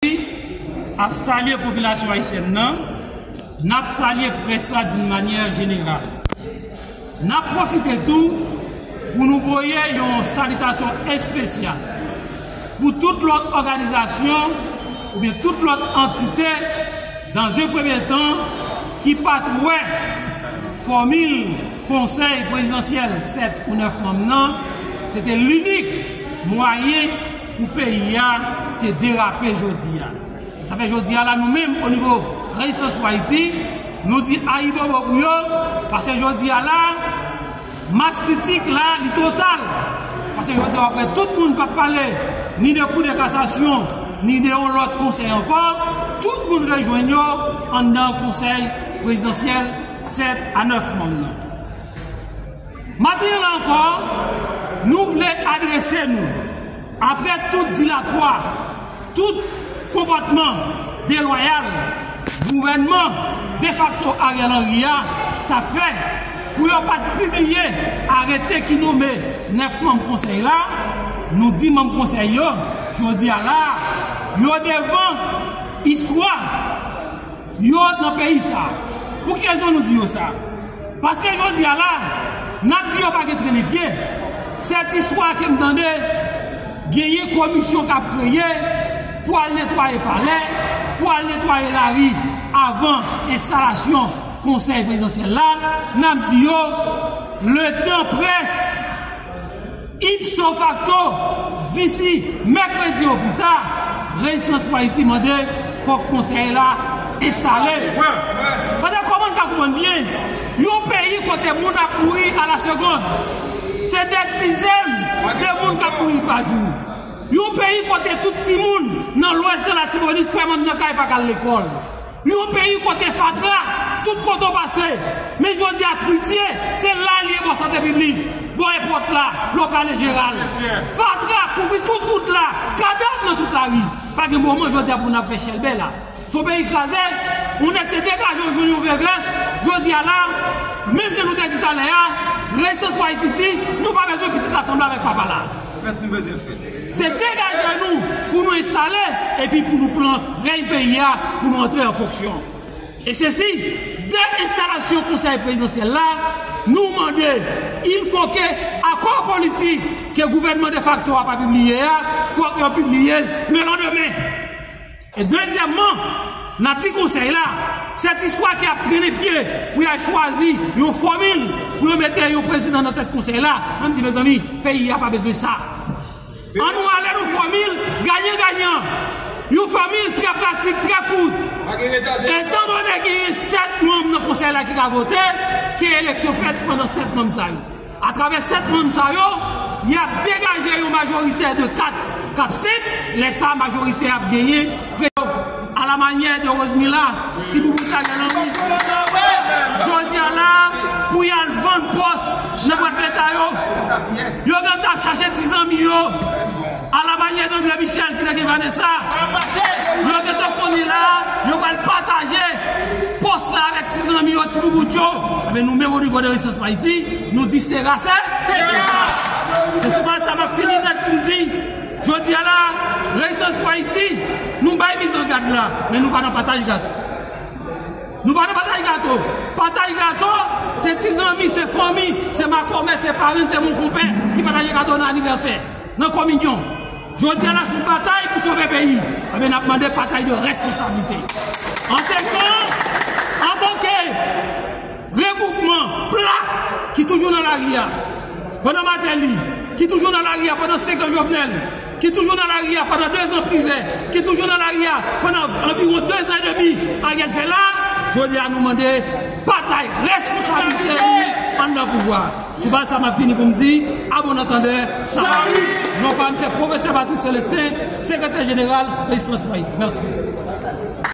Ayiti ap salye popilasyon ayisyèn nan, n ap salye près la doun manyè jeneral. N ap pwofite tou pou nou voye yon salitasyon espesyal pou tout lòt òganizasyon oubyen tout lòt antite dan un premye tan ki pa t wè fòmil konsèy prezidansyèl 7 ou 9 manm nan se te linik mwayen Pou peyi a te derape jodi a. E sa fè jodi a la nou menm o nivo Rejistans pou Ayiti, nou di ayibobo pou yo, paske jodi a la, mas kritik la li total. Paske jodi a wap wè tout moun pap pale ni de kou de kasasyon, ni de yon lòt konsèy ankò, tout moun rejwenn yo anndan konsèy prezidansyèl 7 a 9 manm nan. Maten an ankò, nou vle adrese nou, apre tout dilatwa, tout konpòtman delwayal gouvènman defakto Ariel Henry a t ap fè pou yo pa t pibliye arete ki nome 9 manm konsèy la, nou di manm konsèy yo, jodi a la a, yo devan istwa. Yo nan peyi sa. Pou ki rezon nou di yo sa? Paske jodi a la, n ap di yo pa gen trennen pye. Sètiswa ke m tande, genyen komisyon k ap kreye pou al netwaye palè, pou al netwaye lari avan enstalasyon konsèy prezidansyèl la, n ap di yo, letan près. Ipso facto, disi mèkredi o pi ta, Rezistans pou Ayiti mande fòk Konsèy la enstale. Paske kòman n ka konprann byen, yon peyi kote moun ap mouri a la segond, se dè dizèn de moun k ap mouri pa jou, yon peyi kote tout timoun nan lwès de Latibonit fèmann nan kay pa ka al lekòl, Yon peyi kote fatra tout kote w pase, men jodi a Trudie se la li ye bò sante piblik, bò èpòt la, lòptal enjeral. Fatra kouvri tout wout la, kadav nan tout lari. Pa gen moman jodi a pou n ap fè chèlbè la. Se yon peyi kraze, yon nèg se degaje w jwenn yon vye vès, jodi a la, menm jan nou te di talè a, Reyisans pou Ayiti di, nou pa bezwen pitit la sanble avèk papa la. Fèt nou bezwen fè. Se degaje nou pou nou enstale epi pou nou pran rèy peyi a pou nou antre an fonksyon. E se si, dè enstalasyon Konsèy Prezidansyèl la, nou mande, ilfoke akò politik ke gouvènman defakto a pa pibliye a, fòk yo pibliye l lelandemen. E dezyèmman, n ap di Konsèy la, sètisfwa ki ap trennen pye pou y al chwazi yon fòmil pou yo mete yon prezidan nan tèt Konsèy la, mwen di mezanmi, peyi a pa bezwen sa. An nou ale nan fòmil ganyan ganyan, yon fòmil trè pratik, trè kout. Etandone genyen 7 manm nan Konsèy la ki ka vote, ke eleksyon fèt pandan 7 manm sa yo. Atravè 7 manm sa yo, y ap degaje yon majoritè de 4 k ap senp, lè sa majorite a ap genyen Prezidan a la manyè de Rosemila, Ti Boubou Chanèl anvi kanpe jodia la a pou y al vann pòs nan bwat leta yo. Yo gentan ap chache ti zanmi yo. A la manyè de Andre Michel ki te gen Vanessa, yo gen tan konnen la a, yo pral pataje pòs la avèk ti zanmi yo, ti boubout yo. Enben nou menm onivo de Rezistans pou Ayiti, nou di se ra se. Se ra! Se sou baz sa m ap fini nèt pou m di, jodi a la a, Rezistans pou Ayiti, nou bay mizangad la, men nou pa nan pataj gato. Nou pa nan pataj gato. Pataj gato, se ti zanmi, se fanmi, se makomè, se parenn, se monkonpè ki pataje gato nan anivèsè. Nan kominyon Jodi a la son batay pou sove peyi Ebyen nap mande patay de responsablite Antenkan Antanke Regwoupman Pla Ki toujou nan lari a Pandan Mateli Ki toujou nan lari a pandan 5 an Jovenel Ki toujou nan lari a pandan 2 zan Privè Ki toujou nan lari a pandan anviwon 2 zan e demi Ariel fè la Jodi a nou mande batay responsablite Ann nan pouvwa. Sou baz sa map vini pou m di a bon antandè Salut! Non pa m se Pwofesè Patrick Celestin, Sekretè Jeneral Rezistans pou Ayiti. Mèsi.